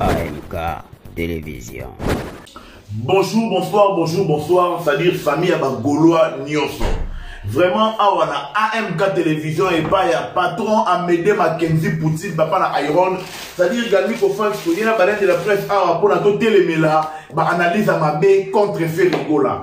AMK Télévision. Bonjour, bonsoir, bonjour, bonsoir, c'est-à-dire famille à Gaulois Nioso. Vraiment, awa na AMK Télévision et pas ya patron Amédée Mackenzie Poutine, papa na Iron, c'est-à-dire Gami Kofan, il y a la presse awa pour la télé, mais là, bah, analyse à ma baie contre Ferrigola.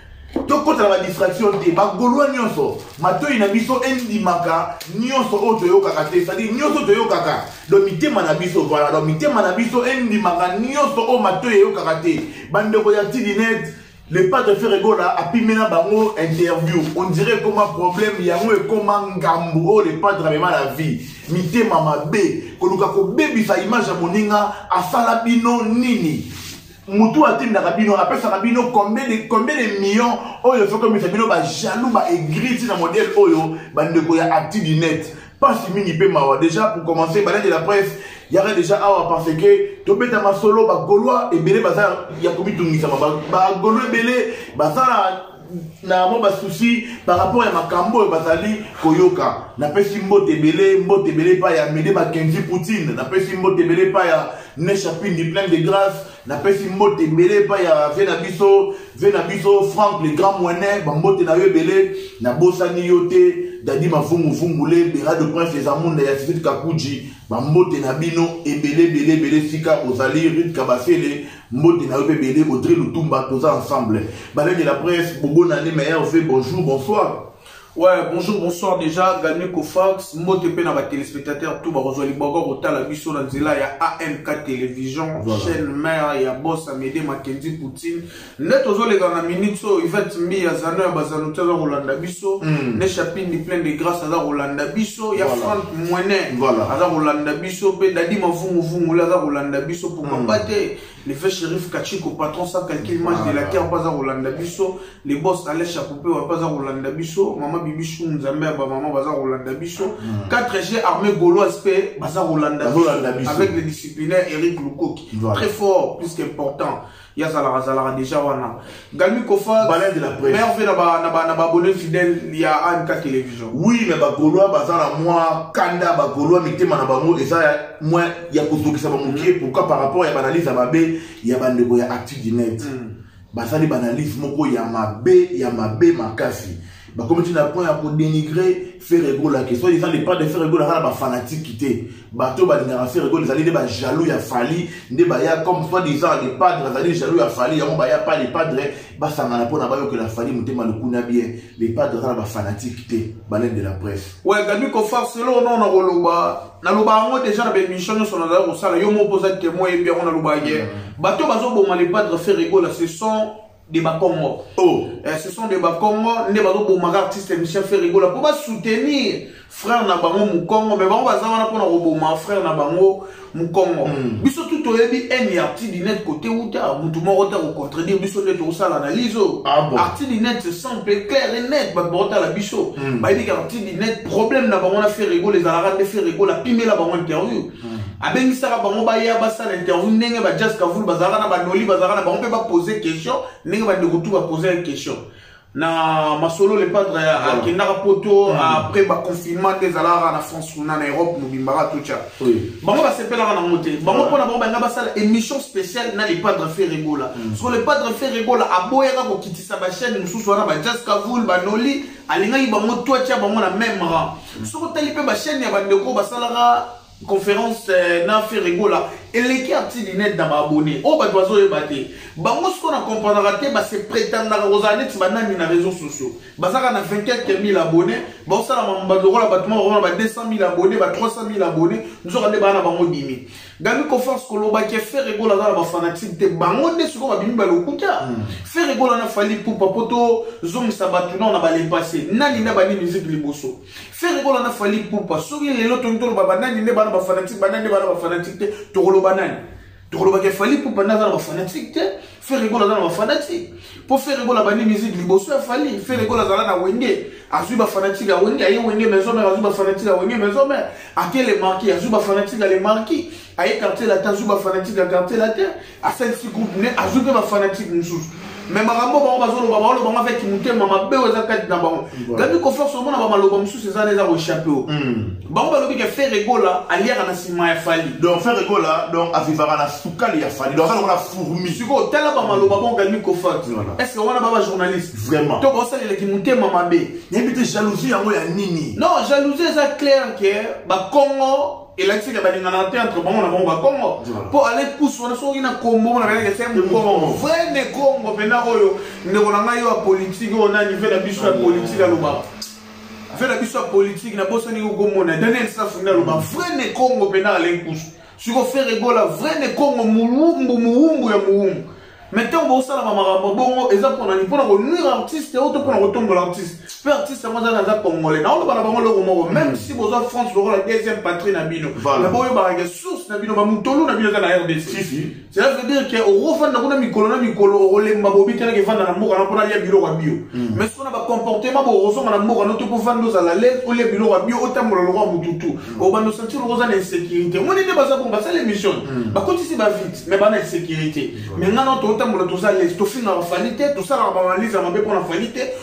tokota na badistraction te bagolwa nyonso matoi na biso endimaka nyonso oyo toyokaka te sadi nyonso toyokaka do mitema na biso vala do mitema na biso endimaka nyonso oyo matoi eyokaka te bandeko ya tidinete le padre ferregola apimela bango interview on dirait ekoma problème yango ekoma ngambo oyo le padre amema na vie mitema mabe koluka kobebisa image ya moninga asala bino nini mutu atindaka bino apesaka bino combien de combien de millions oyo soki omisa bino ba jaloux ba aigriti na modèle oyo bandeko ya acti du net pasi mingi mpe mawa déjà pour commencer balade de la presse yaka déjà awa parce que tobeta masolo bagolois ebele baza ya komitungisama bagolois ebele baza na na mwa basusi par rapport ya makambo oyo bazali koyoka napesi mbote ebele mbote ebele epai ya mede makenzi poutine napesi mbote ebele epai ya neshapindi plein de grâce napesi mbote ebele epai ya ve na biso ve na biso frank le grand moine bambote na yo ebele nabosani yo te dadi mavunguvungule bera de prince les amunda ya sisite kakuji bambote na bino ebele ebele ebele esika ozali rit kabasele mbote na yo mpe bele audrey lutumba toza ensemble balai de la presse bobonane ma rv bonjour bonsoir Ouais, bonjour, bonsoir déjà, Gagné Kofax, mbote pe na ba téléspectateurs tout ba kozwa liboko kotala biso na nzela ya AMK télévision, voilà. chaîne mère ya boss Amédée Mackenzie Poutine. Net ozo le na minute so Yvette Mbi ya Zano ya Bazano tsa Rolanda biso, mm. ne chapini plein de grâce à Rolanda biso, ya voilà. Franck Mwene, voilà. à Rolanda biso pe Dadi Mavungu Vungu la Rolanda biso kobamba hmm. te le fait shérif kachiko patron sans calcul match de la terre mpo aza kolanda biso le boss alex akupewa mpo aza kolanda biso mama bibisu nzambe ya bamama baza kolanda biso 4g hmm. armée gauloise mpe baza kolanda biso avec le disciplinaire eric lukoki très fort plus qu'important ye azalaka azalaka déjà wana Galmi Kofa, Balin de la presse. Merve na ba na ba na ba abonné fidèle ya AMK télévision. Oui, mais ba Gaulois baza na moi kanda ba Gaulois mitema na bango eza ya moi ya kozokisa ba mukie mm. pourquoi par rapport ya analyse ya mabe ya bandeko ya actu du net. Mm. Basali ba analyse moko ya mabe ya mabe makasi. bakomi ti na point ya kodenigre ferre gola ke soit disant depart de ferre gola kaka bafanatiki te bato oyo balingaka ferre gola ezali nde bajaloux ya fali nde baya comme soit disant de padre azali jaloux ya fali yango baya pa le padre basangana mpo na bayokela fali motema lokuna bien le padre aza na bafanatiki te balaine de la presse oyo gabi kofar selo ono na koloba naloba yango deja na baémission nyonso nazali kosala yo moko mpo oza témoin yebi yango nalobaki mm. bato bazoboma le padre ferre gola ce sont de bakongo oh. eh, ce sont de bakongo nde bazobomaka artiste michel ferigola mpo basoutenir frère na bango mokongo me bango baza wana mpona koboma frère na bango mokongo mm. biso tu toyebi ene ya artidinet kote uta motu moko te kocontredire biso nde tokosala analyse oyo ah, bon. artidinet simple clair et net bato bakotala biso mm. bayebi ke artidinet problème na bango na ferigola ezalaka nde ferigola pimela bango interview abengisaka bango baya basala interview ndenge ba jas kavulu bazalaka na banoli bazalaka na bango mpe bapose question ndenge bandeko tu bapose question na masolo le padre akendaka poto mm. après baconfinement nde ezalaka na france kuna na europe mobimba katotya bango basepelaka nango te bango mpo na bango balinga basala émission spéciale na le padre ferregola mm. soko le padre ferregola aboyaka kokitisa bachaine mosusu wana bajazz kavul banoli alingaki bango twatya bango na même rang soki otali mpe bachaine ya bandeko oyo basalaka conférence euh, na ferregola eleki arti linete na baabone oyo oh, bato bazoyeba te bango siko na comprenaka te base prétendaka kozala neti banani na réseau sociaux bazalaka na 24 000 abonné baosalama bato lokola bato moko bakoma ba 200 000 abonné ba 300 000 abonné nzoka nde baa na bango dimi Gabi Kofas koloba ke Ferre Gola aza na ba fanatique te bango nde siko babimi ba lokuta hmm. Ferre Gola na Fally Ipupa po to zongisa bato nao na ba le passé nani nde abandi musique liboso Ferre Gola na Fally Ipupa soki lelo tongi toloba ba nani nde bana ba fanatique ba nani nde bana ba fanatique te tokoloba nani tokoloba ke Fally Ipupa nde aza na ba fanatique te Ferre Gola aza na bafanatique mpo Ferre Gola abandi musique liboso ya Fally Ferre Gola azala na wenge azwi bafanatique ya wenge aye wenge maison mère azwi bafanatique ya wenge maison mère ake le marquis azwi bafanatique ya le marquis aye quartier latin azwi bafanatique ya quartier latin asalisi groupe ne azwi mpe bafanatique mosusu me makambo bango bazoloba baoloba bango avec motema mabe oyo eza kati na bango gabi confiance omona bamaloba mosusu eza na eza koechappe o bango balobi ke ferre gola aliaka na nsima ya fali donc ferre gola donc avivaka na sukali ya fali donc aza lokola fourmi sikoyo tala bamaloba bongo galmi kofati est ce que wana baba journaliste vraiment to baosalela kimotema mabe nayebi te jalousie yango ya nini non jalousie eza claire ke bakongo elakisaka balingana te entre bango na bango bakongo mpo ale kusu wana soki na kombo na kayaka se mokongo vrai ne kongo mpena oyo ndeko na ngai yo ya politike oyo nani mpe na biso ya politike aloba affaire na biso ya politique nabosani kokomona daniel safu nde aloba vrai ne congo mpe na alain kusu siko frere egola vrai ne congo muwumbu muwumbu ya muwumbu me ntango bokosalama makambo bongo eza mpona nini mpona konuire artiste oyo to mpona kotombola artiste mpe artiste yango azali aza congolais naoloba na bango eloko moko meme si boza france lokola deuxième patrie na bino na boyebaka ke source na bino bamutolu na bino eza na rdc cela veut dire ke okofanda kuna mikolo na mikolo okolemba bobikelaka efanda na mboka na mpo nalia biloko ya bio hmm. mais soko na bacomportement bo okosonga na mboka no to kofanda ozala lese olia biloko ya bio otambola lokwa motu tu hmm. obanda osentir oko oza na insécurité moni nde baza bongo basala émission hmm. bakotisi bavite mais bana insécurité mais ngai na totambola toza lese tofingaka fali te tosalaka baanalyse ya mabe mpo na fali te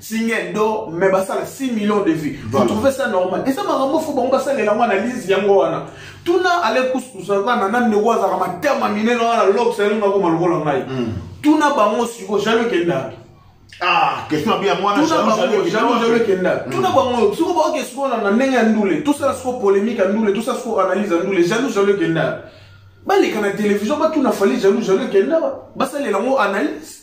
singe do mais basala 6 millions de vues voilà. vous trouvez ça normal eza makambo fo bango basalela yango analyse yango wana tuna ale kusukusa wana na ndeko azalaka matama minene wana lox alingi akoma lokola ngai hmm. tuna bango siko jalo ekendaki Ah, question ya bien mwana jalo jalo ekenda hmm. tuna bango siko baoke siko na ndenge ya ndule tosala siko polémique ya ndule tosala siko analyse ya ndule jalo jalo ekenda baleka na télévision batuna fali jalo jalo ekenda basalela yango analyse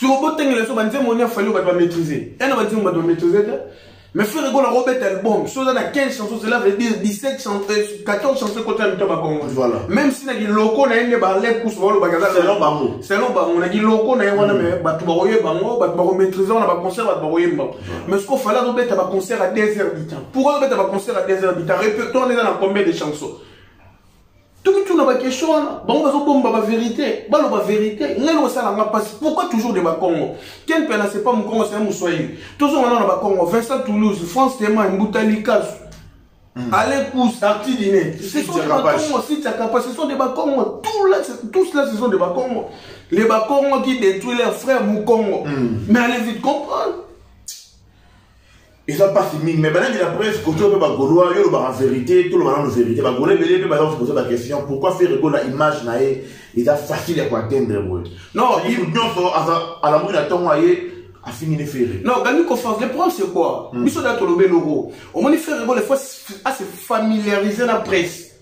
soko botengela biso banzembo nini afali bato bamaîtrise ena banzembo bato bamaîtrise te mais frere gola kobeta album so oza na 15 chanson cela veut dire 17 chanson 14 chanson ekota na mito ya bakongo même si na kiloko na ye nde balep kusu balobakaselon bango selon bango na kiloko na ye wana me mm. bato bakoye bango bato bakomaîtrise wana baconcert bato bakoyemba mais soko fali azobeta baconcert ya 2 heures du temps pourquoi azobeta baconcert ya 2 heures du temps repertoire nde eza na combien de chanson tuna ba question wana bango bazobomba ba verité baloba verité ngai lokosala nga mpasi pourquoi toujours de bakongo ken mpe anase pas mokongo se ya moswahili tozonga nao na bakongo vincent toulouse france tema mbuta likasu hmm. Alain Pousse, Arti Diné, ce sont des Bakongo, si Tchakapa, ce sont des Bakongo, tout là, tous là, ce sont des Bakongo. Les Bakongo qui détruisent leurs frères Moukongo. Mm. Mais allez vite comprendre. eza mpasi mingi mai banangi na presse koto mpe bagolois yo olobaka verité toloba nano verité bagolois ebele mpe baza kopoza baquestion pourquoi faire egola image na ye eza facile ya koatteindre boye non ye nyonso alamuki na ntongo aye afingi ne ferre non gani confiance le problème c'est quoi hmm. biso da tolobe loko omoni ferre egola fo ase familiariser na presse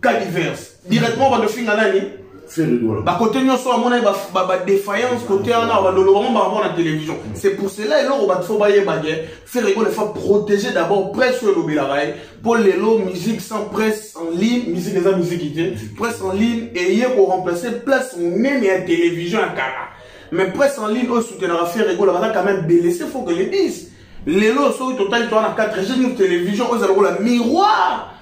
caliverse directement bando finga nani bakote nyonso amonaki badéfaillance kote wana bandoloba ngo bango na télévision c'est pour cela eloko bato fo bayeba ke ferego ne fa protéger d'abord presse oyo elobelaka ye mpo lelo musique sans presse en ligne musique eza musique te presse en ligne eye koremplace place monene ya télévision ya kala mais presse en ligne oyo soutenaka ferego la baza quand même belese faut que le dise lelo soki totali toa na 4 chaine une télévision oyo eza lokola miroir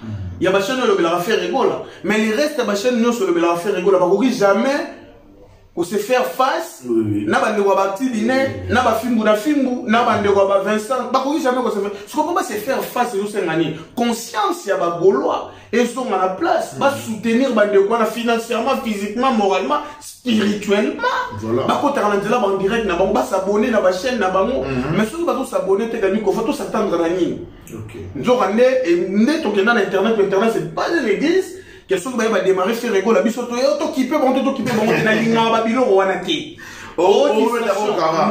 ya bachaine oyo elobelaka faire egola mais le reste ya bachaine nyonso elobelaka faire egola bakoki jamais kose faire face na bandeko ya bactiline na bafimbu na fimbu na bandeko ya bavincent bakoki jamais kose sikopo base faire face ezosenga nini conscience ya bagolois ezonga na place ba soutenir bandeko wana financièrement physiquement moralement spirituellement Voilà. bakotaka na nzela bandirect na bango basabone na bachaîne na bango Mhm. mais soki bazosabone te kani kofa tosatandra na nini Ok. nzoka nde e- nde tokenda na internet po internet c'est pas une église ke soki baye bademare ferregola biso toye tokipe bango te tokipe bango te nalingaka babiloko wana te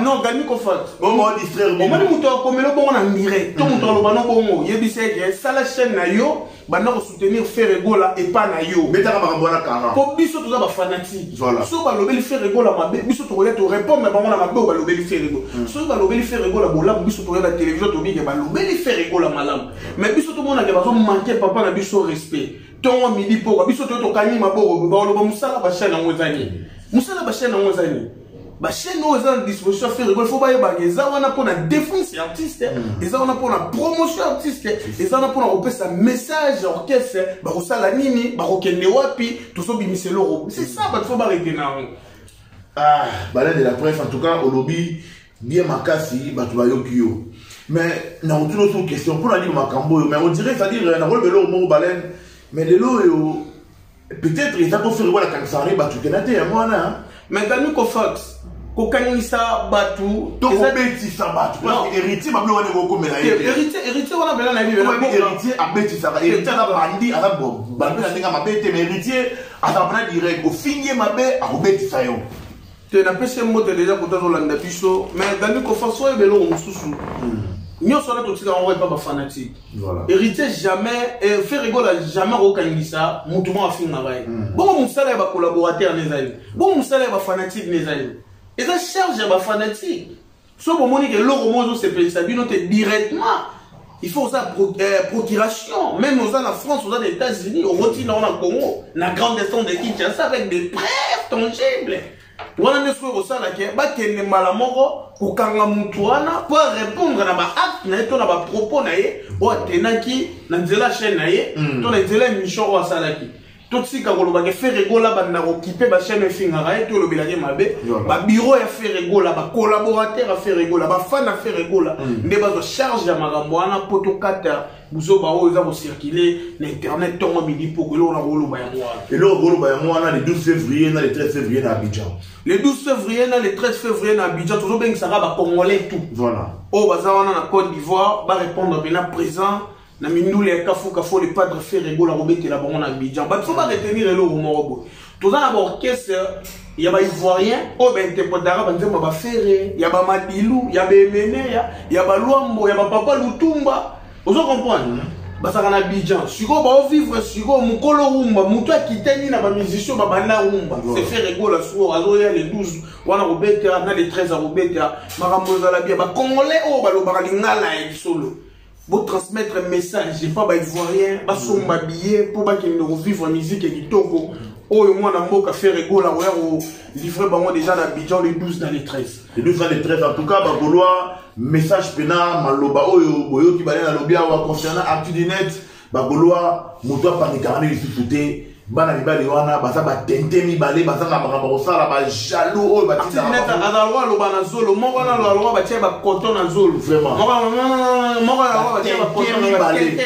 non galmi kofaltomoni moto akomela bongo na ndire to moto aloba no bongo yebisa ete sala chaîne na yo banda kosoutenir ferre egola epa na yo betaka makambo wana kara mpo biso toza bafanatike soki balobeli ferre egola mabe biso tokoya torépondre na bango na mabe oyo balobeli ferre egola hmm. soki balobeli ferre egola bolamu biso tokoya na télévision tobike balobeli ferre egola malamu mais biso tomonake bazomanke papa na biso respect tongo midi poka biso to tokangi maboko baoloba mosala bashane yango eza nini mosala bashane yango eza nini bashane oyo eza na disposition ya ferre fo bayebaka eza wana mpo na défense ya artiste mm. eza wana mpo na promotion ya artiste eza wana mpo na kopesa message ya orchestre bakosala nini bakokende wapi tozobimisa eloko c'est ça bato fo baretena yango ah, balade la preuve en tout cas olobi bien makasi bato bayoki yo mais nakotuna oso question mpo na nini makambo oyo mais odire c'est-à-dire nakoloba eloko moko balene mais lelo oyo peut-être eza koso lokola kanisaka nde bato kena te yango wana mais gami kofax kokangisa bato tokobetisa bato héritier mabe wana ekokomela héritier wana mpena na héritier abetisaka héritier aza bandi aza bandi na ndenge mabe te mais héritier aza mpena direct ofingi ye mabe akobetisa yo te napesi ye mbote deja kota azolanda biso mais dani kofaso oyeba eloko mosusu hmm. nyonso wana totika yango epa bafanatique héritier jamais eh, ferre egola jamais akokangisa motu mwa afingaka ye hmm. bongo mosala ya bacollaborateur na ezali bongo mosala ya bafanatique na ezali eza charge ya bafanatique soki bomoni ke eloko moko ezosepelisa bino te directement il faut oza pro, euh, procuration même oza na france oza na états-unis okoti nango na congo na grande estance de kinshasa avec des preuves tangibles wana nde soki kosala ke bakende mbala moko kokanga motu wana mpo arépondre na baacte na ye to na bapropos na ye oyo atenaki na nzela chaîne na ye hmm. to na nzela émission oyo asalaki totika koloba ke ferre gola banda kokipe bachaine efingaka ye tolobela ye mabe babiro ya ferre gola bacollaborateur ya ferre gola bafan ya ferre gola mm. nde bazwa charge ya makambo wana mpo tokata buzoba oyo eza kocircule na internet ntongo midi mpoko eloko nakoloba yango wana eloko koloba yango wana le 12 février na le 13 février na abidjan le 12 février na le 13 février na abidjan tozobengisaka bacongolais tout voilà oyo baza wana na côte d'ivoire barépondre mpena présent na mindule ya kafu kafu le padre ferre gola kobetela bango na abidjan bato fo baretenir eloko moko boye toza na baorchestre ya baivoirien oyo bainterpretaka banzembo ya bafere ya bamadilu ya baemeneya ya balwambo ya bapapa lutumba ozo comprendre bazalaka na abidjan sikoyo baovivre sikoyo mokolo rumba moto akitani na bamusicien babanda rumba se fere gola sikoyo azoya le 12 wana kobeta na le 13 akobeta makambo ezala bia bacongolais oyo balobaka lingala ya lisolo Bo transmettre message epa ba ivoirien basomba mm. billet mpo bakende kovivre musique ya kitoko oyo mwana mboka fere gola oya kolivre bango deja na bidjan le 12 na le 13 le 12 na le 13 en tout cas bagolois message mpena maloba oyo boyoki bale nalobi awa concernant actu du net bagolois moto apanikaka nde lisusu te bana mibali wana baza batente mibale bazanga makambo kosala bajalou oyo batindaaazalwa aloba na zolo moko wana aloba batie bakoto na zolo mibale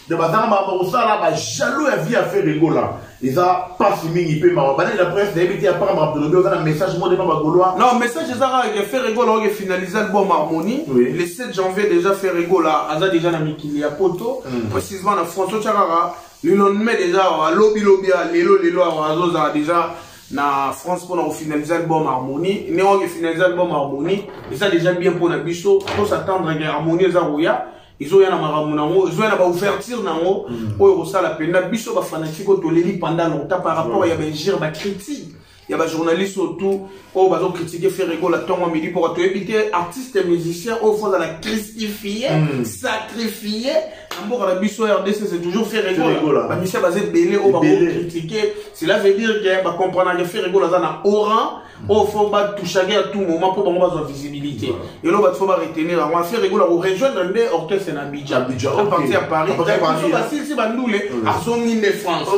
de bazanga makambo kosala bajalou ya vie ya feregola eza pasi mingi mpe mawa banani la presse nayebi te apaka makambo tolobi oza na message moko epa bagolois non message eza kaka ke ferre egola oke finalise album harmonie oui. le 7 janvier déjà ferre egola aza déjà na mikili ya poto mm. précisement na france otya kaka le lendemain déjà awa lobi lobi ya lelo lelo awa azozala déjà na france mpona kofinalise album harmonie ndenge oke finalise album harmonie eza déjà bien mpo na biso tosattendre ke harmonie eza koya ezoya na makambo nango ezoya na baouverture nango mm. oyo kosala mpenza biso bafanatike oyo toleli pendant longtemps par rapport ya baingire bacritique ya bajournaliste oyo tout oyo bazokritike ferregola ntongo midi mpoka toyebi te artiste musicien oyo fo azala cristifie mm. sacrifie na mboka na biso rdc c'est toujours ferregola bamisien baza ebele oyo bakokritike cela veut dire ke bacomprenake ferregola aza na oran oyo fo batouchage ya tout moment mpo bango bazwa visibilité eloko bati fo baretenir yango affaire ekola korejoindre nde orchestre na bidja aparti ya paris basilisi bandule azongi nde france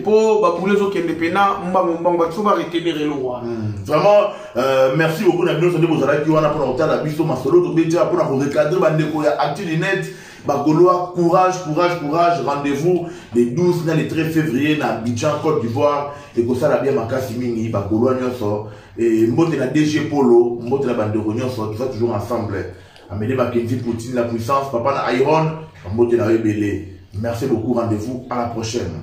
mpo babule ezokende mpe na mbango mbango bati fo baretenir eloko wana vraiment euh, merci beaucoup na bino sande bozalaki wana mpona kotala biso masolo tobetya mpona korecadre bandeko ya actu du net Bagolois, courage, courage, courage. Rendez-vous le 12 na le 13 février na Abidjan, Côte d'Ivoire. Et comme ça, la bien makasi mingi, Bagolois nyonso. Et mbote na DG Polo, mbote na bandeko nyonso, tout ça toujours ensemble. Amélie Mackenzie, Poutine, la puissance, papa na Iron, mbote na ebele. Merci beaucoup, rendez-vous à la prochaine.